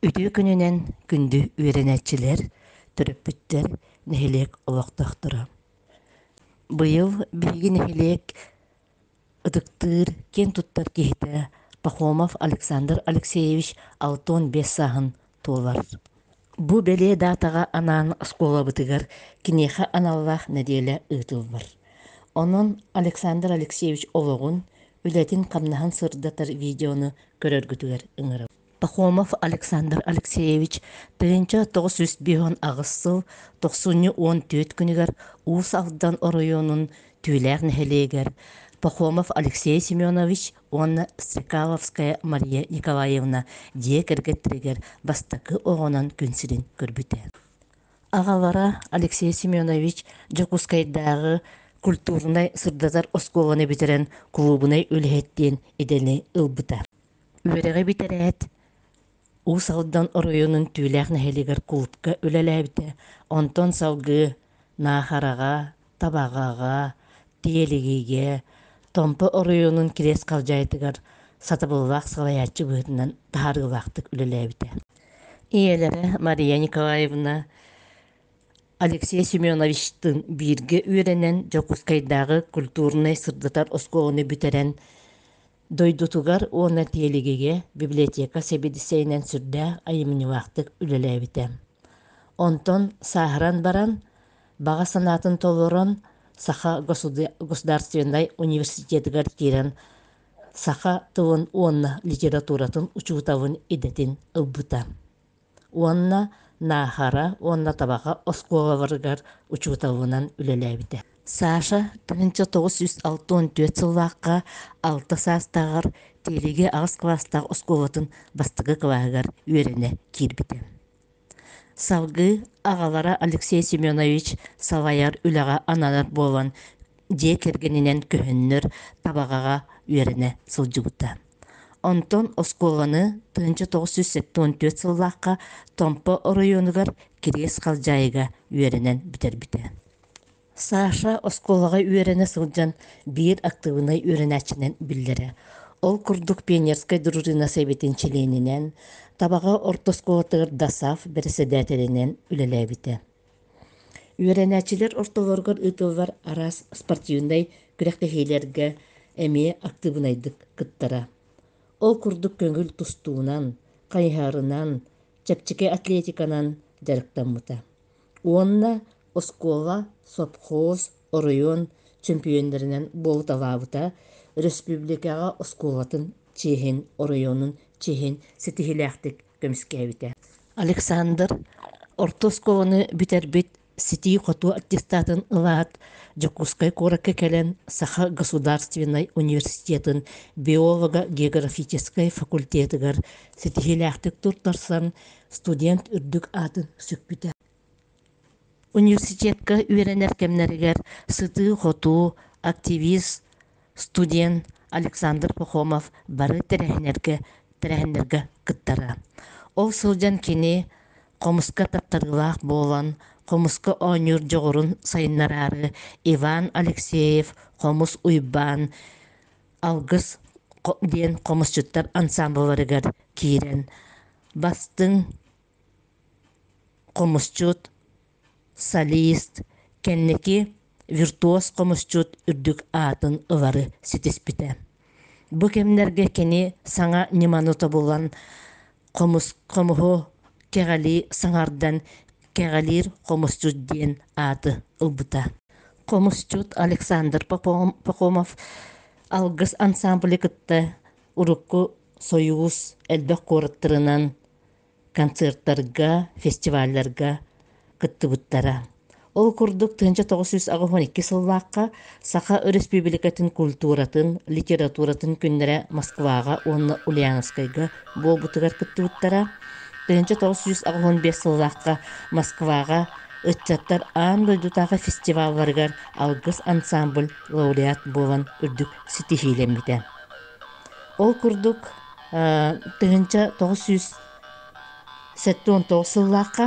Үтүө күнүнэн күндү үөрэнээччилэр, төрөппүттэр, нэһилиэк олохтоохторо. Быйыл биһиги нэһилиэк ытыктыыр, киэн туттар киһитэ Пахомов Александр Алексеевич алтан биэс сааһын туолар. Бу бэлиэ даатаҕа анаан оскуолабытыгар киниэхэ аналлаах нэдиэлэ ыытыллар. Онон Александр Алексеевич олоҕун, үлэтин-хамнаһын сырдатар видеону көрөргүтүгэр ыҥырабын. Пахомов Александр Алексеевич тыһыынча тоҕус сүүс биһон аҕыс сыл тохсунньу уон түөрт күнүгэр Уус Алдан оройуонун Түүлээх нэһилиэгэр Пахомов Алексей Семенович уонна Сикаловская Мария Николаевна дьиэ кэргэттэригэр бастакы оҕонон күн сирин көрбүтэ. Аҕалара Алексей Семенович Дьокуускайдааҕы культурнай-сырдатар оскуоланы бүтэрэн кулуубунай үлэһит диэн идэни ылбыта. Үөрэҕи бүтэрээт, Уус Алдан оройуонун Түүлээх нэһилиэгэр култка үлэлээбитэ. Онтон салгыы Наахараҕа, Табаҕаҕа, Тиэлигигэ, Томпо оройуонун Кириэс Халдьаайытыгар сатабыллаах салайааччы быһыытынан таһаарыылаахтык үлэлээбитэ. Ийэлэрэ Мария Николаевна Алексей Семеновичтыын бииргэ үөрэнэн Дьокуускайдааҕы культурнай-сырдатар оскуоланы бүтэрэн Дойдутугар уонна тиэлигигэ библиотека сэбиэдиссэйинэн сүрдээх айымньылаахтык үлэлээбитэ. Онтон сааһыран баран, баҕа санаатын толорон, Саха государственнай университетыгар киирэн, саха тылын уонна литературатын учууталын идэтин ылбыта. уонна Наахара уонна Табаҕа оскуолаларыгар учууталынан үлэлээбитэ. Саша тыһыынча тоҕус сүүс алта уон түөрт сыллаахха алта саастааҕар Тиэлиги аҕыс кылаастаах оскуолатын бастакы кылааһыгар үөрэнэ киирбитэ. Салгыы аҕалара Алексей Семенович салайар үлэҕэ ананар буолан дьиэ кэргэнинэн көһөннөр Табаҕаҕа үөрэнэ сылдьыбыта. Онтон оскуоланы тыһыынча тоҕус сүүс сэттион түөрт сыллаахха Томпо оройуонугар Кириэс Халдьаайыга үөрэнэн бүтэрбитэ. Саша оскуолаҕа үөрэнэ сылдьан биир актыыбынай үөрэнээччинэн биллэрэ. Ол курдук пионерскай дружина сэбиэтин чилиэнинэн, Табаҕа орто оскуолатыгар ДАСАФ бэрэссэдээтэлинэн үлэлээбитэ. Үөрэнээччилэр ортолоругар ыытыллар араас спортивнай күрэхтэһиилэргэ эмиэ актыыбынайдык кыттара. Ол курдук көҥүл тустуунан, хайыһарынан, чэпчэки атлетиканан дьарыктаммыта. Уонна оскуола, сопхуос, оройуон чөмпүйүөннэринэн буолуталаабыта, өрөспүүбүлүкэҕэ оскуолатын чиэһин, оройуонун чиэһин ситиһиилээхтик көмүскээбитэ. Александр орто оскуоланы бүтэрбит ситии-хотуу аттестатын ылаат, Дьокуускай куоракка кэлэн Саха государственнай университетын биолого-географическай факультетыгар ситиһиилээхтик туттарсан, студент үрдүк аатын сүкпүтэ. Университекка үөрэнэр кэмнэригэр сытыы-хотуу, активист, студент Александр Пахомов бары тэрээһиннэргэ тэрээһиннэргэ кыттара. Ол сылдьан кини хомуска таптарыылаах буолан, хомуска оонньуур дьоҕурун сайыннараары Иван Алексеев Хомус Уйбаан Алгыс диэн хомусчуттар ансаамбылларыгар киирэн бастыҥ хомусчут солист кэнники виртуоз хомусчут үрдүк аатын ылары ситиспитэ бу кэмнэргэ кини саҥа ньыманы тобулан хомуһу кэҕэлии саҥардан кэҕэлиир хомусчут диэн ааты ылбыта хомусчут александр пахомов алгыс ансаамбылы кытта урукку сойуус элбэх куораттарынан концертарга, фестивалларга кыттыбыттара. Ол курдук тыһыынча тоҕус сүүс аҕыс уон икки сыллаахха Саха Өрөспүүбүлүкэтин культуратын, литературатын күннэрэ Москваҕа уонна Ульяновскайга буолбутугар кыттыбыттара. Тыһыынча тоҕус сүүс аҕыс уон биэс сыллаахха Москваҕа ыччаттар аан дойдутааҕы фестивалларыгар алгыс ансаамбыль лауреат буолан үрдүк ситиһиилэммитэ. Ол курдук тыһыынча тоҕус сүүс сэттэ уон тоҕус сыллаахха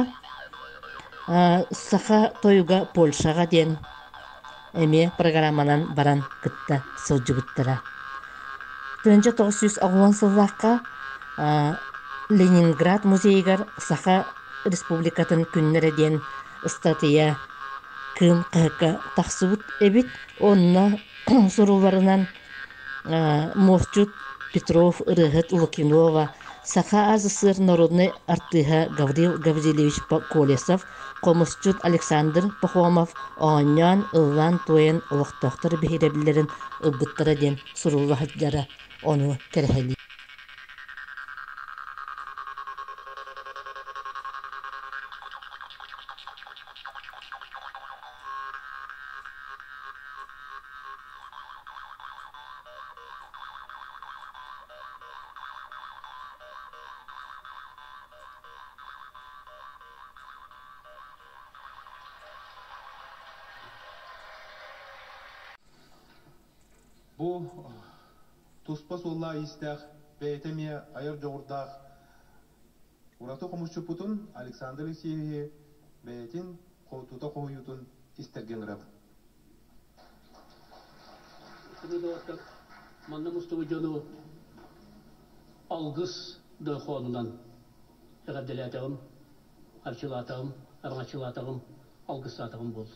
саха тойуга Польшаҕа диэн эмиэ программанан баран кытта сылдьыбыттара. Тыһыынча тоҕус сүүс оҕуон сыллаахха Ленинград музейыгар Саха Республикатын күннэрэ диэн ыстатыйа Кыым хаһыакка тахсыбыт эбит. Онно сурулларынан Мовчут, Петров, ырыаһыт Лукинова, Саха СССР норуодунай артыыһа Гаврил Гаврильевич Колесов, хомусчут Александр Пахомов оонньоон, ыллаан-туойан олохтоохтор биһирэбиллэрин ылбыттара диэн сурулла сылдьара ону кэрэһэлиир. Бу туспа суоллаах-иистээх бэйэтэ эмиэ айар дьоҕурдаах ураты хомусчуппутун Александр Алексеевиһы бэйэтин тута хоһуйуутун истэргэ ыҥырабын. Манна мустубут дьону алгыс дойхоонунан эҕэрдэлээтэҕим, арчылаатаҕым, араҥаччылаатаҕым, алгыстаатаҕым буолду.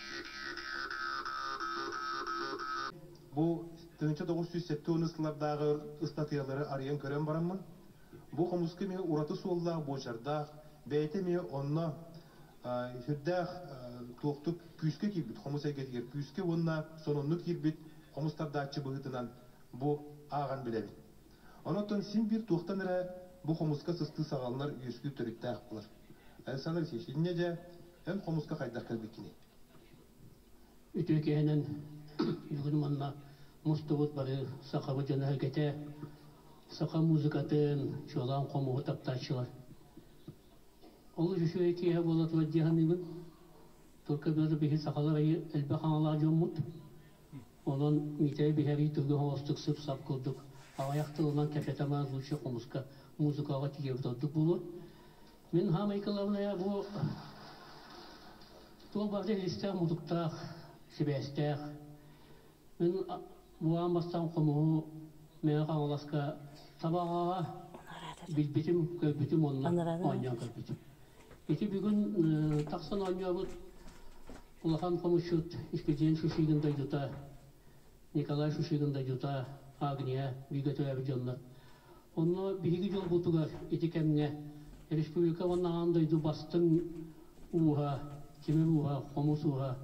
Бу тыһыынча тоҕус сүүс сэттэ уон ысталардааҕы ыстатыйалары арыйан көрөн бараммын, бу хомуска эмиэ ураты суоллаах буочардаах, бэйэтэ эмиэ онно сүрдээх туохтук күүскэ киирбит хомус эйгэтигэр күүскэ уонна сонуннук киирбит хомустардааччы быһыытынан бу ааҕан билэбин. Онон син биир туохтан эрэ бу хомуска сыстыы саҕаланар үөскүүр төрүттээх буолар. Александр Алексеевич, инньэ дьэ, Эн хомуска хайдах кэлбиккиний? Үтүөкэһинэн бүгүн уонна мустубут бары сахабыт дьоно эһигэтэ саха музыкатын, чуолаан хомуһу таптааччылар. Олус үчүгэй киэһэ буола турар дии саныыбын. Турка бары биһи сахалар айы элбэх аналаах дьоммут. Онон Миитэрэй биһэрии тылга оҥостук сып-сап курдук аҕыйах тылынан кэпсэтэ маан лучше хомуска музыкаҕа тиийэбит ордук буолуо. Мин Һама Николаевна бу туох бары илистээх-мутуктаах, сибээстээх. Мин буһаан бастаан хомуһу Мэҥэ Хаҥаласка табаҕаҕа билбитим, көрбүтүм онно оонньоон көрбүтүм. Ити бүгүн тахсан оонньообут улахан хомусчут Искидиэн Шишигин дойдута Николай Шишигин дайыта, Агния, бииргэ төрөөбүт дьоннор. Онно биһиги дьолбутугар ити кэмҥэ республика уонна аан дойду бастыҥ ууһа, тимир ууһа, хомус ууһа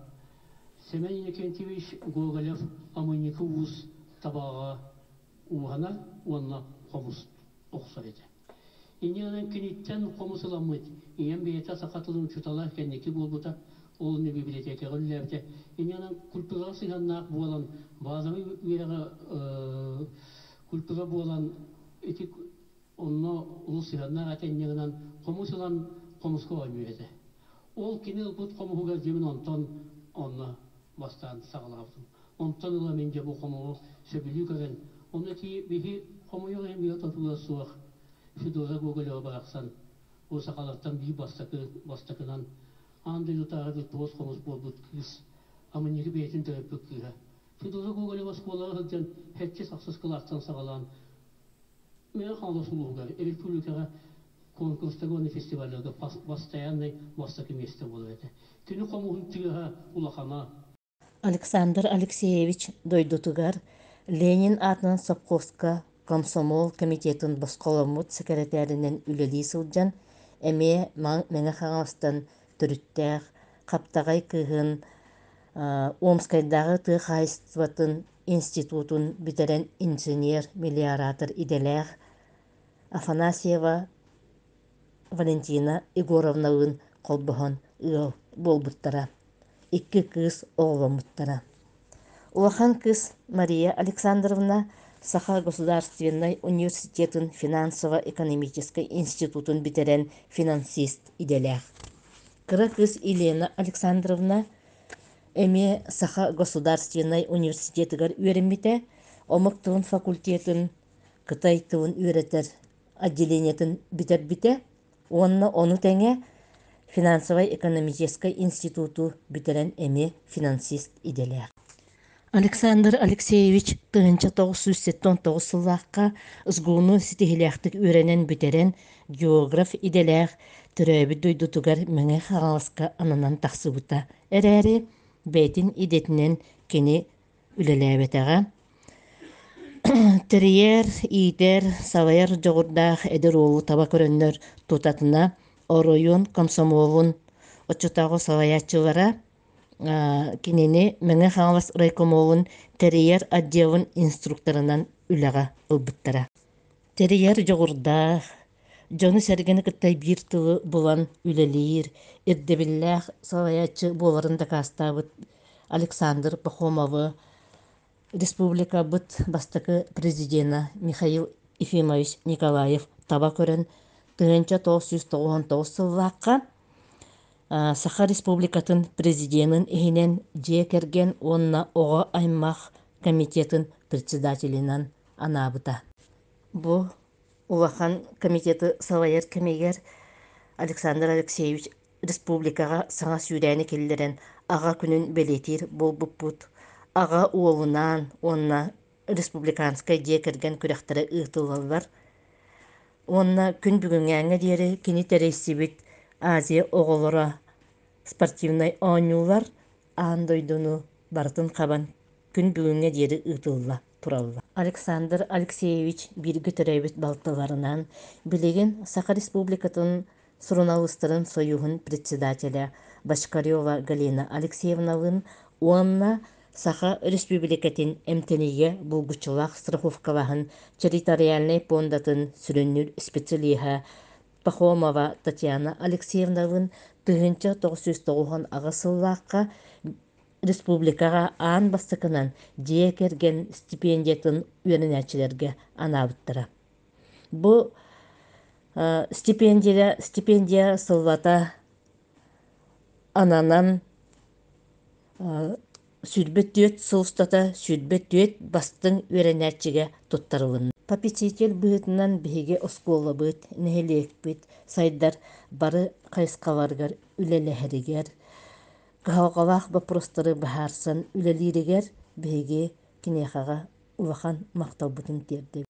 Семен Иннокентьевич Гоголев-Омунньуку уус табаҕа ууһанар уонна хомус охсор этэ. Ини ылан киниттэн хомус ыламмыт, ийэм бэйэтэ саха тылын учуутала кэнники буолбута, уолун бибилэтиэкэҕэ үлэлээбитэ. Ини ылан культураҕа сыһыаннаах буолан, базовай үөрэҕэ культура буолан, ити онно улус сыһыаннаах этэ инньэ гынан, хомус ылан хомуска оонньуур этэ. Ол кини ылбыт хомуһуга дьиmin онтон онно бастаан саҕалаабытым. Онтон ыла мин дьэ бу хомоҕу сөбүлүү көрөн, ону этии биһи хомойуох иһин билэ-тутула суох Федора Гоголева барахсан, бу сахалартан биир бастакы бастакынан аан дойдутааҕы виртуоз хомус буолбут кыыс, амынньыгы бэйэтин төрөппүт кыыһа Федора Гоголева оскуолаҕа сылдьан һэччи-сахсыс кылааттан саҕалаан Мэҥэ-Хаҥалас улууһугар, республикаҕа куонкурустарга уонна фестивалларга бастайааннай бастакы миэстэ буолар этэ. Кини хомуһун тыаһа улахана. Александр Алексеевич дойдутугар Ленин аатынан сопхуоска комсомол комитетын босхоломмут сэкирэтээринэн үлэлии сылдьан, эмиэ Мэҥэ Хаҥаластан төрүттээх, хаптаҕай кыыһын Омскайдааҕы тыа хаһаайыстыбатын институтун бүтэрэн инженер-мелиоратор идэлээх Афанасьева Валентина Егоровналыын холбоһон ыал буолбуттара, икки кыыс оҕоломмуттара. Улахан кыыс Мария Александровна Саха государственнай университетын финансово-экономическай институтун бүтэрэн финансист идэлээх. Кыра кыыс Елена Александровна эмиэ Саха государственнай университетыгар үөрэммитэ, омук тылын факультетын кытай тылын үөрэтэр отделениетын бүтэрбитэ уонна ону тэҥэ финансовай-экономическай институту бүтэрэн эмиэ финансист идэлээх Александр Алексеевич тыһыынча тоҕус сүүс сэттэ он тоҕус сыллаахха СГУну ситиһилээхтик үөрэнэн бүтэрэн географ идэлээх төрөөбүт дойдутугар Мэҥэ Хаҥаласка ананан тахсыбыта эрээри бэйэтин идэтинэн кини үлэлээбэтэҕэ. Тэрийэр, иитэр, салайар дьоҕурдаах эдэр уолу таба көрөннөр тутатына оройуон комсомолун оччотооҕу салайааччылара кинини Мэҥэ Хаҥалас райкомолун тэрийэр отделын инструкторынан үлэҕэ ылбыттара. Тэрийэр дьоҕурдаах, дьону-сэргэни кытта биир тылы булан үлэлиир ирдэбиллээх салайааччы буоларын дакаастаабыт Александр Пахомовы, республикабыт бастакы президенэ Михаил Ефимович Николаев таба көрөн тыһыынча тоҕус сүүс тоҕуон тоҕус сыллаахха Саха Республикатын Президенин иһинэн Дьиэ кэргэн уонна оҕо аймах комитетын председателинэн анаабыта. Бу улахан комитеты салайар кэмигэр Александр Алексеевич республикаҕа саҥа сүүрээни киллэрэн Аҕа күнүн бэлиэтиир буолбуппут, аҕа уолунаан уонна республиканскай дьиэ кэргэн күрэхтэрэ ыытыллаллар уонна күн бүгүҥҥээҥҥэ диэри кини тэрийсибит Азия оҕолоро спортивнай оонньуулар аан дойдуну барытын хабан күн бүгүҥҥэ диэри ыытылла. тураллар. Александр Алексеевич бииргэ төрөөбүт балтыларынан, билигин Саха Республикатын Суруналыыстарын сойууһун председателэ Бочкарева Галина Алексеевналыын уонна Саха Республикатын эмтэнигэ булгуччулаах страховкалаһын территориальнай пуондатын сүрүннүүр специалиһа Пахомова Татьяна Алексеевналыын тыһыынча тоҕус сүүс тоҕуһун аҕыс сыллаахха республикаҕа аан бастакынан дьиэ кэргэн стипендиятын үөрэнээччилэргэ анаабыттара. Бу стипендия стипендия сыллата ананан сүүрбэ түөрт сыл устата сүүрбэ түөрт бастыҥ үөрэнээччигэ туттарылынна. Попечитель быһыытынан биһиги оскуолабыт, нэһилиэкпит сайдар бары хайысхаларыгар үлэлэһэригэр кыһалҕалаах боппуруостары быһаарсан үлэлииригэр биһиги киниэхэҕэ улахан махталбытын тиэрдэбит